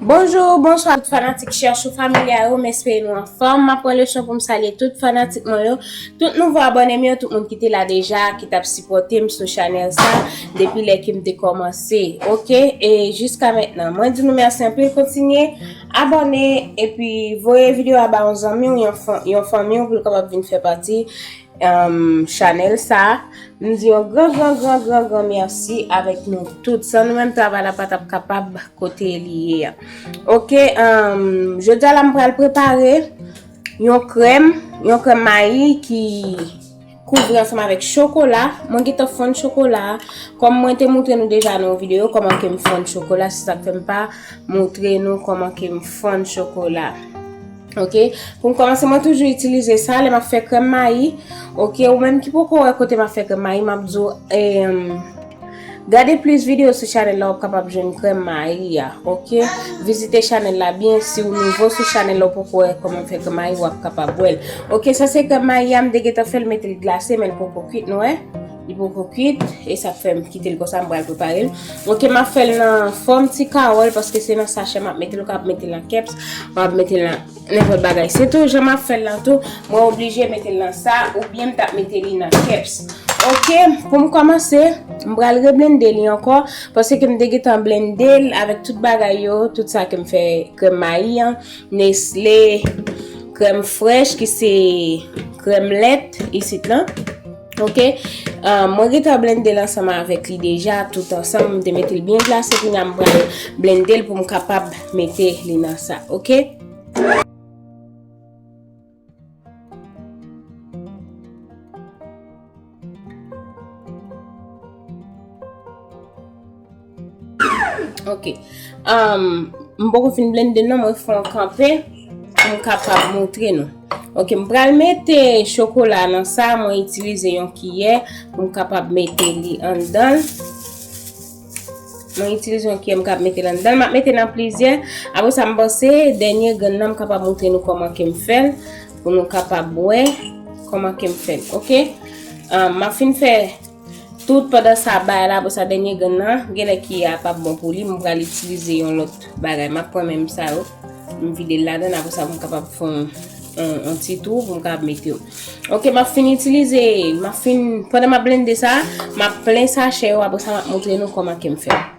Bonjou, bonswa tout fanatik Chouchou Familia yo, m espere nou anfòm. M ap pran leson pou m salye tout fanatik mwen yo, tout nouvo abòne m yo, tout moun ki te la deja, ki t ap sipòte m sou chanèl sa depi lè ke m te kòmanse ok, e jiska mentnan. Mwen di nou mèsi anpil, kontinye abòne epi voye videyo a ba yon zanmi w, yon fanmi w pou l kapab vin fè pati. Chanel sa m di yon gran gran gran gran gran merci avèk nou tout san nou menm travay la pa tap kapab kote li ye a ok jodi a la m pral prepare yon krèm yon krèm mayi ki kouvri ansanm avèk chokola mwen gentan fonn chokola kòm mwen te moutre nou deja nan yon videyo kòman ke m fonn chokola se sak fè m pa moutre nou kòman ke m fonn chokola. Ok poum komanse mwen toujou itilize sa lè map fè krèm mayi ok ou menm ki poko wè kote map fè krèm mayi map di w eemm gade plis video sou chanèl la wap kapab jwenn krèm mayi a ok vizite chanèl la byen si ou nouvo sou chanèl la ou poko wè kòman fè krèm mayi wap kapab wèl ok sa se krèm mayi a mte gentan fèl metel glase menl poko kwit nou wè. Li poko kwit e sak fèm kitel konsa m pral preparel m ok map fèl nan fòm ti kawòl paske se nan sachè map metel ou kap metel nan keps wap metel nan nenpòt bagay se tou jan map fèl lan tou mwen oblije metel nan sa ou byen m tap metel li nan keps ok poum kòmanse m pral re blende li ankò paske kem te gentan blendel avèk tout bagay yo tout sa kem fè krèm mayi an nesle krèm frèch ki se krèm lèt isit lan. Ok, mwen gen ta blendel ansanm avèk li deja, tout ansanm, mwen te metel byen glase, koun ya m pral blendel pou m kapab mete li nan sa, ok. Ok. M poko fin blende non mwen fon kanpe. M kapab montre nou. Ok m pral mete chokola nan sa mwen itilize yon kiyè. M kapab mete li an dan. Mwen itilize yon kiyè m kapab mete li an dan. M ap mete nan plizyè. Apo sa m bose denye gen nan m kapab montre nou koman ke m fel. Pou nou kapab we koman ke m fel. Ok. M ap fin fe. Tout pandan sa bay la pou sa dènye grenn nan, gen lè ki a pap bon pou li, m pral itilize yon lòt bagay. M ap pran menm sa yo, m vide l ladan, apre sa pou m kapab fè yon ti tou pou m kapab mete yo. Ok, m ap fin itilize, m ap fin, pandan m ap blende sa, m ap plen sachè yo, apre sa m ap montre nou kòman ke m fè.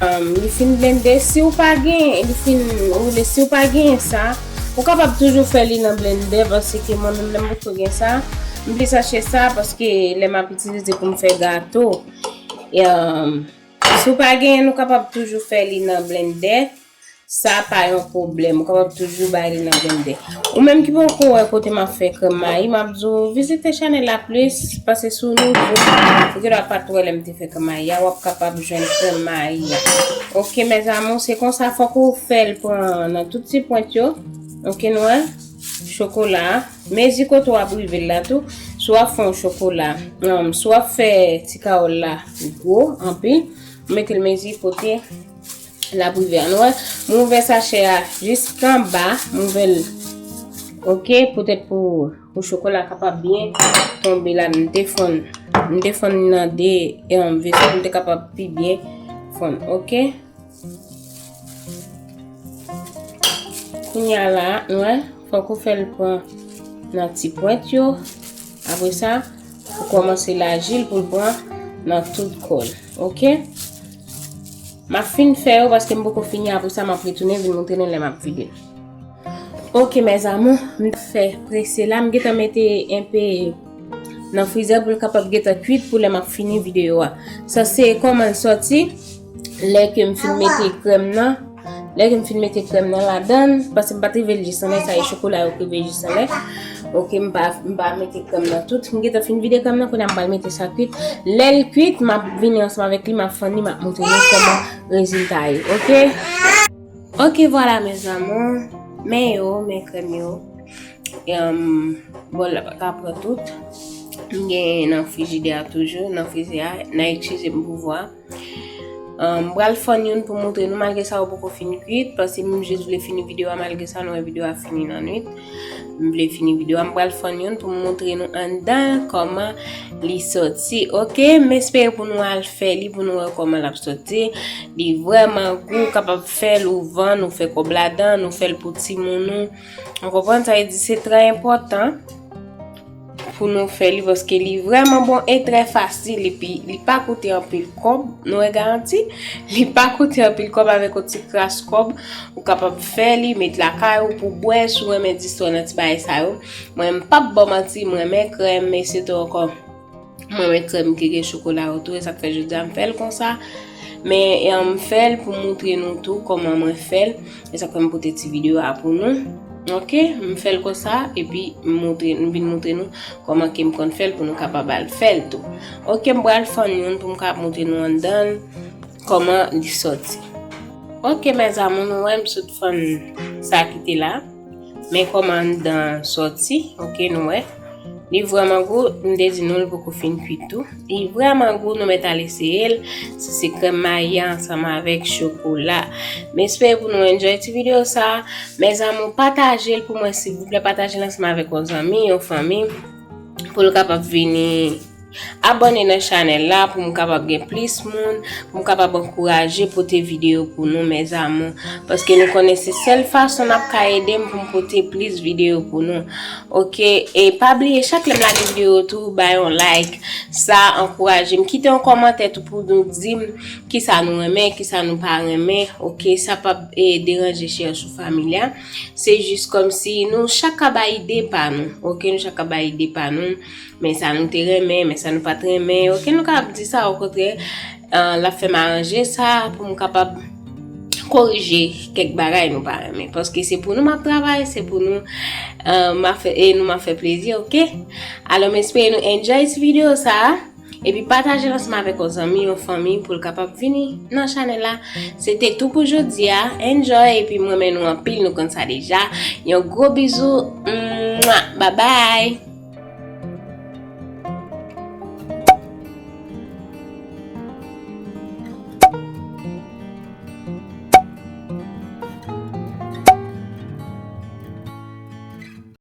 Li fin blende siw pa gen li fin roule siw pa gen sa ou kapab toujou fè li nan blende paske mwen menm lèm poko gen sa m plis achte sa paske lè map itilize poum fè gato siw pa gen nou kapab toujou fè li nan blende Sa pa yon pwoblèm kòman m toujou bay li nan blennde. Ou menm ki poko wè kote map fè krèm mayi map di w vizite chanèl la plis pase si w nouvo ou gen dwa pat wè lè m te fè krèm mayi a wap kapab jwenn krèm mayi a ok mes amour se konsa fòk ou fè l pran nan tout ti pwent yo ok nou wè chokola a mezi kote wap rive l la tou si wap fè yon chokola si wap fè ti kawòl la gwo anpil ou mete l mezi kote Lap rive an wè. M ouvè sachè a jiskanba. M ouvè l ok poutèt pou chokola kapab byen tonbe la. M te fonn. M te fonn nan 2 veso pou l te kapab pi byen fonn ok. Kounya la nou wè fòk ou fè l pran nan ti pwent yo. Apre sa ou kòmanse laji l pou l pran nan tout kò l ok. Map fin fè yo paske m poko fini apre sa map retounen vin moutre nou lè map vide ok mes amour m t fè prese la m gentan mete enpe nan frizè pou l kapab gentan kuit pou lè map fini video a sa se kòman l sòti lè ke m fin mete krèm nan lè ke m fin mete krèm nan ladann paske m pat rive l jis anlè sa e chokola yo k rive jis anlè. Ok m pa m pa mete krèm nan tout m gentan fin vide krèm nan kounya m pral mete sa kwit lèl kwit map vini ansanm avèk li map fann li map montre nou kòman rezilta ye ok ok vwala mes amours men yo men krèm yo emm bòl la paka pran tout m gen nan frijidè a toujou nan frize a nan itilize m pou vwa. M pral fann youn pou moutre nou malgre sa yo poko fin kuit paske m jis vle fini videyo a malgre sa nou wè videyo a fini nan nwit. M vle fini videyo a m pral fann youn pou m moutre nou anndan koman li soti. Ok, m espere pou nou al fè li pou nou wè koman l ap soti. Li vreman gou, ou kapab fè l ou vann ou fè kòb ladan, ou fè l pou timoun ou. Ou konprann sa vle di se trè enpòtan. Pou nou fè li paske li vrèman bon e trè fasil epi li pa koute anpil kòb, nou wè garanti, li pa koute anpil kòb avèk yon ti kras kòb ou kapab fè li, met lakay ou pou bwè si w renmen di sò nan ti bagay sa yo. Mwen m pap ba w manti, m renmen krèm men se tou ankò m renmen krèm ki gen chokola yo tou e sa k fè jodi a m fè l konsa. Men m fè l pou m montre nou tou kòman mwen fè l. E sa fèm pote ti video a pou nou. Ok, m fèl konsa epi m moutre nou, m vin moutre nou kòman ke m konn fèl pou nou kapab al fèl tou. Ok, m pral fann youn pou m ka moutre nou anndanl kòman li soti. Ok mes amour nou wè m sot fann sa ki te la. Men kòman dan sòti, ok nou wè. Li vreman gou, m te di nou li poko fin kuit tou. Li vreman gou, nou met al eseye l. Si se krèm mayi ansanm avèk chokola. M espere pou nou enjoy ti video sa. Mes amours, pataje l pou mwen silvouplè. Pataje l ansanm avèk yon zanmi, yon fanmi pou l kapab vini. Abone nan chanel la pou m kapab gen plis moun, pou m kapab ankouraje pote videyo pou nou mes amour. Paske nou konnen se sel fason nap ka ede m pou m pote plis videyo pou nou. Ok, e pa bliye chak lem lage videyo tou bay yon like, sa ankouraje m. Kite yon komante tou pou nou di m ki sa nou renmen, ki sa nou pa renmen. Ok, sa pap deranje Cherchou Family a. Se jis kom si nou chak ka bay ide pa nou. Ok, nou chak ka bay ide pa nou. Men sa nou te renmen, men sa nou pat renmen. Ok, nou ka ap di sa o kontrè. L ap fè m aranje sa pou m kapab korije kèk bagay nou pa renmen. Paske se pou nou m ap travay, se pou nou m ap fè plezi, ok? Alò m espere nou enjoy ti videyo sa a. Epi pataje lansman avèk yon zanmi yon fanmi poul kapab vini nan chanèl la se te tou pou jodia enjoy epi m renmen nou anpil nou konn sa deja yon gwo bizou mwah babay.